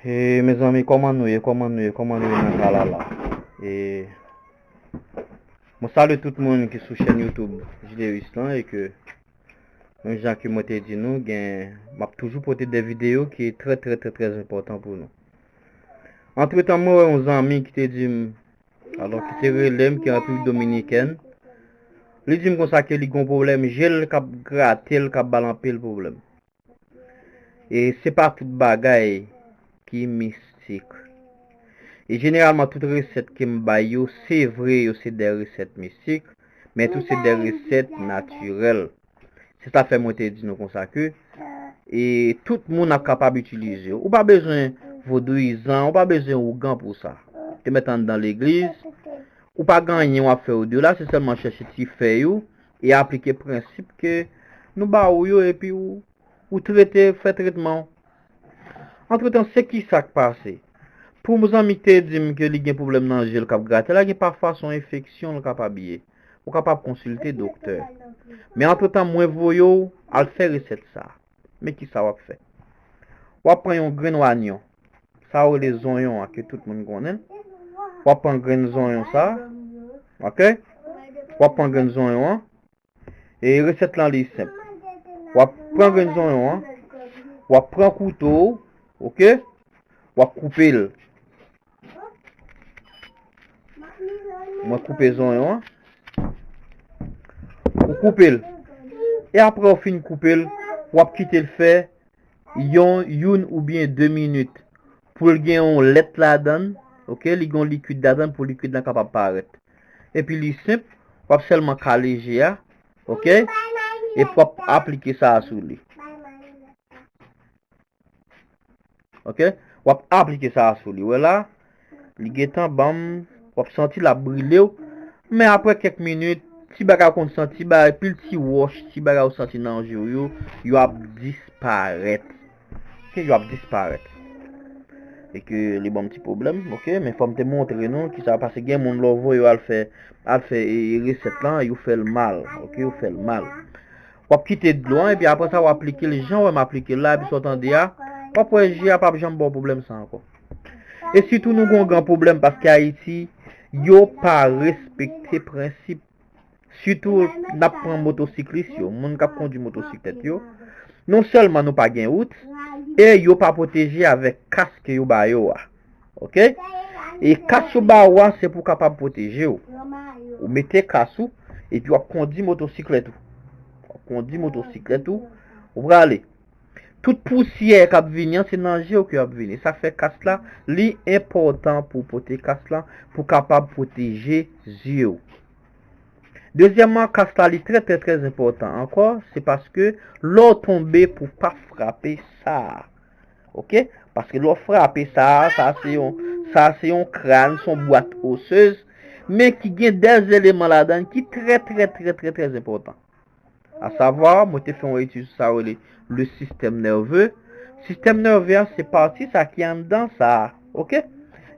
E mezanmi koman nou ye koman nou ye koman nou ye nan tralala e mwen salye tout moun ki sou chèn youtube Jderis lan e ke menm jan ke mwen te di nou gen map toujou pote de video ki trè trè trè trè enpòtan pou nou antretan mwen wè yon zanmi ki te di m alò ki te rele m ki an Repiblik Dominikèn li di m konsa ke li gon pwoblèm je l kap grate l kap ba l anpil pwoblèm E se pa tout bagay ki mistik. E jeneralman tout resèt ke m bay yo, se vre yo se de resèt mistik, men tou se de resèt natirèl. Se sa k fè mwen te di nou konsa ke, e tout moun ap kapab itilize yo. Ou pa bezwen vodouyizan, ou pa bezwen ougan pou sa. Te mèt anndan legliz, ou pa gen anyen w ap fè o delà, se sèlman chèche ti fèy ou, E aplike prensip ke nou ba ou yo epi ou trete, fè tretman ou. Antretan, se kisa k pase? Pou m zanmi k te di m ke li gen pwoblèm nan je l k ap grate la, gen pafwa s on enfeksyon l kapab ye. Ou kapab konsilte doktè. Men antretan mwen voye w al fè resèt sa a. Men kisa wap fè. Wap pran yon grenn wanyon. Sa yo rele zonyon an ke tout moun konnen. Wap pran grenn zonyon sa. Ok. Wap pran grenn zonyon an. E resèt lan li senp. Wap pran grenn zonyon an. Wap pran kouto. Ok. Wap koupe l. Mwen koupe zonyon an. Ou koupe l. E apre ou fin koupe l, w ap kite l fè yon youn oubyen de minit pou l gen yon lèt ladan. Ok, li gen yon likid ladan pou likid la kapab parèt. E pi li senp, w ap sèlman kale je a. Ok, e pou w ap aplike sa a sou li. Ok, wap aplike sa a sou li, wè la, li gentan banm, wap santi la brile ou, men apre kèk minit, ti bagay ou konn santi, ti bagay, pil ti wòch, ti bagay ou santi nan je ou yo, yo ap disparèt. Ok, yo ap disparèt. E ke li banm ti problem, ok, men fòm te montre nou, ki sa pase gen moun lò vò yo al fè, al fè e reset lan, yo fèl mal, ok, yo fèl mal. Wap kite dlo an epi apresa wap aplikel jan wèm aplikel la epi sa w tande a wap wè je a pap janm baw pwoblèm sa ankò. E sitou nou gon gran pwoblèm paske ayiti yo pa respekte prensip sitou nap pran motosiklis yo moun kap kondwi motosiklèt yo non sèlman nou pa gen wout e yo pa pwoteje avèk kask yo ba yo a. Ok E kas yo ba ou a se pou kapab pwoteje ou Ou mete kas ou E pi wap kondi motosiklèt ou Wap kondi motosiklèt ou Ou prale Tout pousyè kap vini an se nan je ou ke yap vini Sa fè kas la Li enpòtan pou pote kas la Pou kapab pwoteje zye ou Dezyèman kas la li trè trè trè enpòtan ankò Se paske lè ou tonbe pou pa frape sa a Ok, paske lò frape sa, sa se yon, sa se yon kran, son bwat osez, men ki gen dèz eleman la dan ki trè trè trè trè trè zèpotan. A savwa, mwen te fè yon etid sou sa wèle le sistèm nève. Sistèm nève a se pati sa ki an dan sa, ok?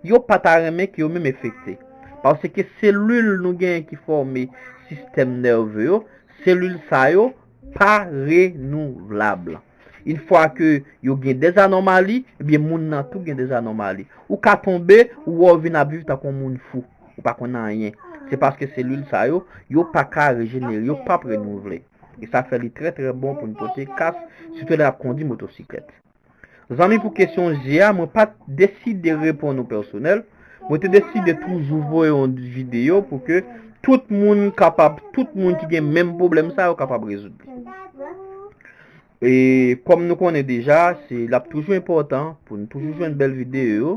Yo pa ta renmen ki yo menm efekte. Paske selil nou gen ki fòme sistèm nève yo, selil sa yo, pa renouvlab. Une fwa ke yo gen des anomali, ebyen moun nan tou gen des anomali. Ou ka tonbe, ou wè w vin ap viv tankou yon moun fou. Ou pa konn anyen. Se paske selil sa yo, yo pa ka rejenere, yo pap renouvle. E sa fè li trè trè bon pou n pote kas, sitou lè n ap kondi motosiklèt. Zanmi pou kesyon je a mwen pat deside reponn ou pèsonèl, mwen te deside toujou voye yon video pou ke tout moun kapab, tout moun ki gen menm pwoblèm sa yo kapab rezoud li. E kòm nou konnen deja, se lap toujou enpòtan pou nou toujou jwenn bèl video yo,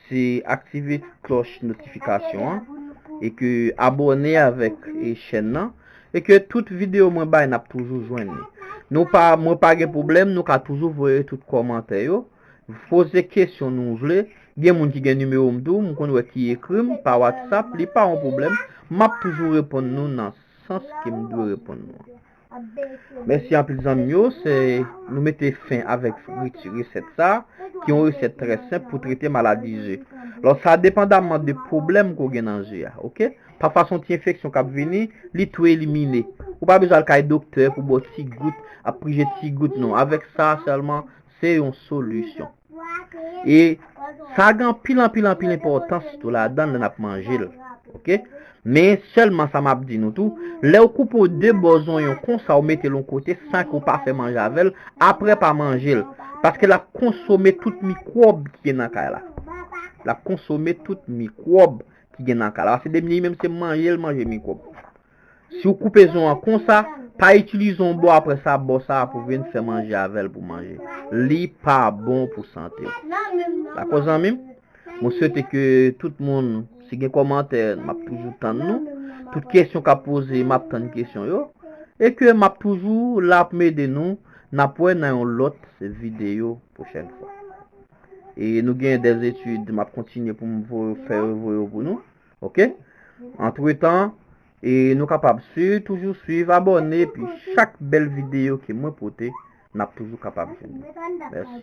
Se aktive klòch notifikasyon an e ke abòne avèk chèn nan e ke tout video mwen bay nap toujou jwenn li. Nou pa mwen pa gen pwoblèm nou ka toujou voye tout kòmantè yo, poze kesyon nou vle, gen moun ki gen nimewo m tou m konn wè ki ekri m pa whatsapp li pa yon pwoblèm map toujou reponn nou nan sans ke m dwe reponn nou an. Mèsi anpil zanmim yo, se nou mete fen avèk friti resèt sa, ki yon resèt trè senp pou trete maladi je. Lò sa depandamman de pwoblèm ke w gen nan je a, ok. Pafwa se yon ti enfeksyon kap vini, li tou elimine. Ou pa bezwen al kay doktè pou baw ti gout, ap prije ti gout non. Avèk sa sèlman, se yon solisyon. E sa gen anpil anpil anpil enpòtans tou ladan lè n ap manje l. Ok. Men sèlman sa m ap di nou tou, lè ou koupe ou 2 bò zonyon konsa ou mete l yon kote san ke ou pa fè manje avè l, aprè pa manje l. Paske l ap konsome tout mikwòb ki gen nan kay la. L ap konsome tout mikwòb ki gen nan kay la. Paske depi li menm se manje l manje mikwòb. Si w koupe zon an konsa, pa itilize yon bò apre sa bò sa a pou vin fè manje avè l pou manje. Li pa bon pou sante w. Dakò zanmi m? Mwen swete ke tout moun, si gen kòmantè, m ap toujou tann nou. Tout kesyon k ap poze, m ap tann kesyon yo. E ke m ap toujou la pou m ede nou. N ap wè nan yon lòt videyo pwochèn fwa. E nou gen dè etid m ap kontinye pou m fè yo voye yo pou nou. Ok Antre tan E nou kapab si toujou suiv abone Pi chak bel video ke mwen pote Nap toujou kapab Mèsi